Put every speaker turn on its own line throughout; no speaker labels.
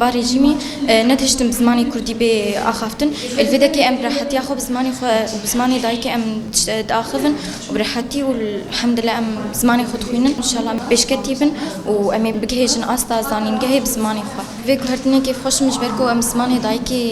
Ba rejîmî netihiştin bi zimanê kurdî bê axaftin. Li vê dekê em bi rehetiya xwe bi zimanê xwe û bi zimanê dayikê em diaxivin û bi rehetî û elhemdulillah em zimanê xwe dixwînin. Înşallah em pêşketî bin û em ê bigihêjin asta zanîngehê bi zimanê xwe. Vê guhertinê kêfxweş min ji ber ku em bi zimanê dayikê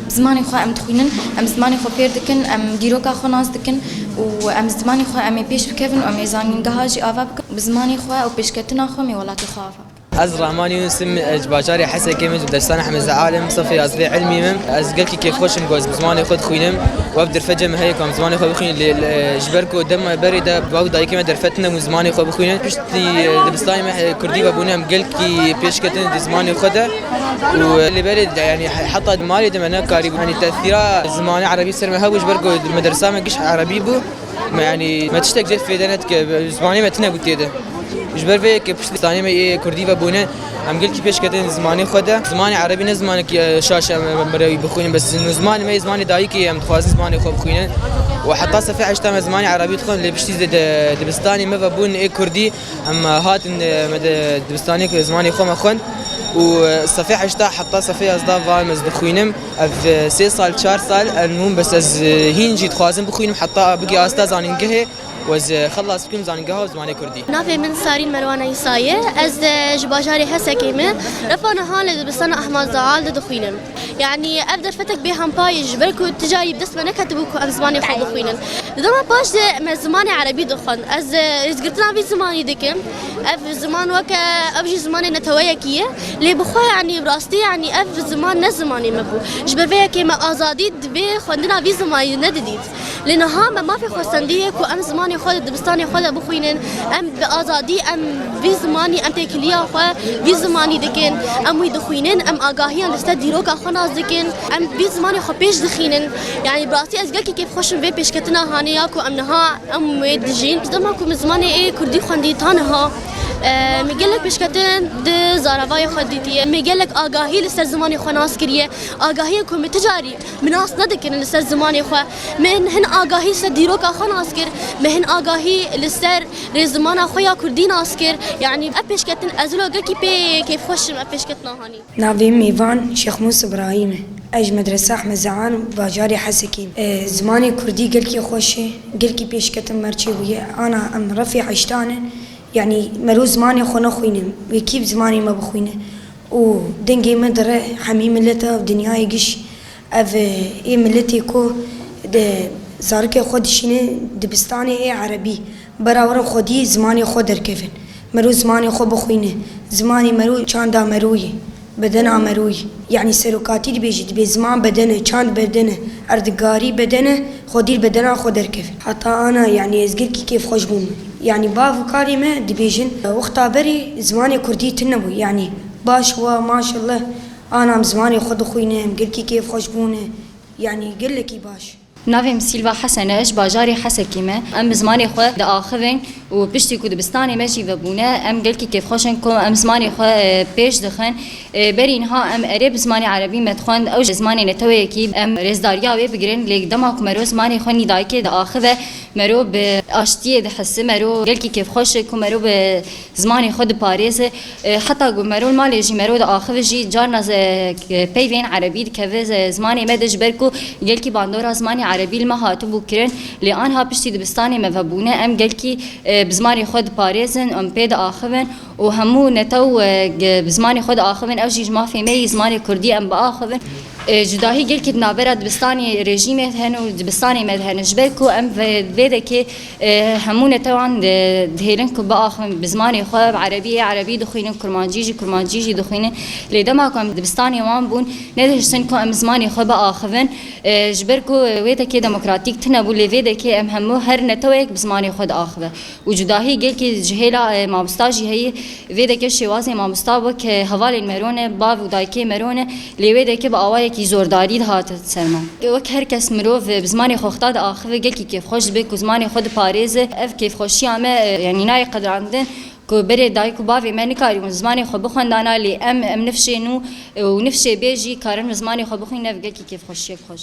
bi zimanê xwe em dixwînin, em zimanê xwe fêr dikin, em dîroka xwe nas dikin û em bi zimanê xwe em ê pêş bikevin û em ê zanîngeha jî ava bikin û bi zimanê xwe û pêşketina xwe em ê welatê xwe ava bikin. Ez Rahman Yunus
im, ji bajarê Hesekê me ji Dersana Hemê Zeal im, sifê yazîdê îlmî me. Ez gelkî kêfxweş im ku ez bi zimanê xwe dixwînim. We bi derfetê me heye ku em zimanê xwe bixwînin lê ji ber ku dema berê de bavê û dayikê me derfetin hebûn zimanê xwe bixwînin. Piştî dibistanê me kurdî vebûn em gelkî pêş ketin di zimanê xwe de û li berê yanî heta di malê de me nekarîbûn yanî tesîra zimanê erebî ser me hebû ji ber ku di medersa me giş erebî bû. Me yani me tiştek cêr fêde net ki zimanê me tine gutiye de. Ji ber vê yekê piştî zanê me yê Kurdî ve bûne em gilkî pêş ketin zimanê xwe de. Zimanê erebî ne zimanek şaş em mirewî bixwînin bes zimanê me yê zimanê dayikê yê em dixwazin zimanê xwe bixwînin. Û heta sefê heşt em zimanê erebî dixwin lê piştî dibistanê me ve bûn ê Kurdî. Em hatin me di dibistanê ku zimanê xwe me xwend û sefê heşta heta sefê yazda van ez dixwînim. Ev sê sal çar sal em hûn bes ez hîn jî dixwazim bixwînim heta bigê asta zanîngehê û ez xelas bikim zanîngeha zimanê kurdî. Navê min Sarîn Merwana
Îsa ye. Ez ji bajarê Hesekê me. Refa niha li dibistana Ehmad Zaal de dixwînim. Yanî ev derfetek bê hempa ye ji ber ku tu carî bi dest me neketibû ku em zimanê xwe bixwînin. Di dema paş de me zimanê erebî dixwend. Ez rêzgirtina vî zimanî dikim. Ev ziman weke ew jî zimanê neteweyekî ye. Lê bi xwe yanî bi rastî yanî ev ziman ne zimanê me bû. Ji ber vê yekê me azadî divê xwendina vî zimanî nedidît. Lê niha me mafê xwesendî ye ku em zimanê xwe di dibistanê xwe de bixwînin. Em bi azadî em vî zimanî em têkiliya xwe vî zimanî dikin. Em wî dixwînin, em agahiyan li ser dîroka xwe nas dikin. Em vî zimanê xwe pêş dixînin. Yanî bi rastî ez gelkî kêfxweş im vê pêşketina hanê ya ku em niha em wê dijîn. Ji dema ku min zimanê ê kurdî xwendî ta niha min gelek pêşketin di zaravayê xwe dîtiye. Min gelek agahî li ser zimanê xwe nas kiriye. Agahiyan ku min ti carî Min nas nedikirin li ser zimanê xwe. Min hin agahî li ser dîroka xwe nas kir. Min hin agahî li ser rê zimana xwe ya kurdî nas kir. Yanî ev pêşketin ez wilo gelkî pê kêfxweş im ev pêşketina Hanî. Navê min Mîvan
Şêxmûs Îbrahîm e. Ez ji Medresa Ehmed Zean û bajarê Hesekê im. Zimanê kurdî gelkî xweş e. Gelkî pêşketin mercê bûye. Ana em refê heştan e. Yanî mero zimanê xwe nexwîne. Wê kî zimanê me bixwîne. Û dengê me di re hemî milet a dinyayê giş. Ev ê miletê ku di zarikê xwe dişîne dibistanê ê erebî. Bera were xwedî zimanê xwe derkevin. Mero zimanê xwe bixwîne. Zimanê mero çanda mero ye. Bedena mero ye. Yanî serokatî dibêje dibê ziman bedene, çand bedene, erdigarî bedene. Xwe dîr be dera xwe derkeve. Heta ana yanî ez girkî kêfxweş bûm. Yanî bav û karê me dibêjin wexta berê zimanê kurdî tune bû. Yanî baş wa maşelleh ana em zimanê xwe dixwîne, em girkî kêfxweş bûne. Yanî gelekî baş. Navê min Sîlva
Hesen e, ji bajarê Hesekê me. Em bi zimanê xwe diaxivin. Û piştî ku dibistanê me jî vebûne em gelkî kêfxweş in ku em zimanê xwe pêş dixin. Berî niha em erê bi zimanê erebî me dixwend ew ji zimanê neteweyekî em rêzdariya wê bigirin lê dema ku mero zimanê xwe nî dayikê diaxive mero bi aştiyê dihisi mero gelkî kêfxweş e ku mero bi zimanê xwe diparêze. Heta ku merûl malê jî merûl axivî jî carna peyvên erebî dikeve zimanê me de ji ber ku gelkî bandora zimanê erebî li me hatibû kirin lê anha piştî dibistanê me vebûne em gelkî bi zimanê xwe diparêzin em pê diaxivin û hemû netew bi zimanê xwe diaxivin ew jî ji mafê me yî zimanê kurdî em biaxivin. Cudahî gelkî di navbera dibistanê rejîmê hene û dibistanê me de hene ji ber ku em vê dekê Hemû netewan dihêlin ku biaxivin bi zimanê xwe, bi erebî yê erebî dixwînin, kurmancî jî kurmancî jî dixwînin. Lê dema ku em dibistanê wan bûn, nedihiştin ku em zimanê xwe biaxivin. Ji ber ku wê dekê demokratîk tune bû lê vê dekê em hemû her neteweyek bi zimanê xwe diaxive. Û cudahî gelkî ji hêla mamosta jî heye. Vê dekê şêwazê mamosta wek hevalên mero ne, bav û dayikê mero ne. Lê wê deke bi awayekî zordarî dihat ser me. Wek her kes mirov bi zimanê xwe xeta diaxive gelkî kêfxweş dibe ku zimanê xwe diparêze. Ev kêfxweşiya me yanî nayê qedirandin ku berê dayik û bavê me nikarîbûn zimanê xwe bixwendana lê em em nifşê nû û nifşê bê jî karin bi zimanê xwe bixwînin ev gelkî kêfxweşiyek xweş.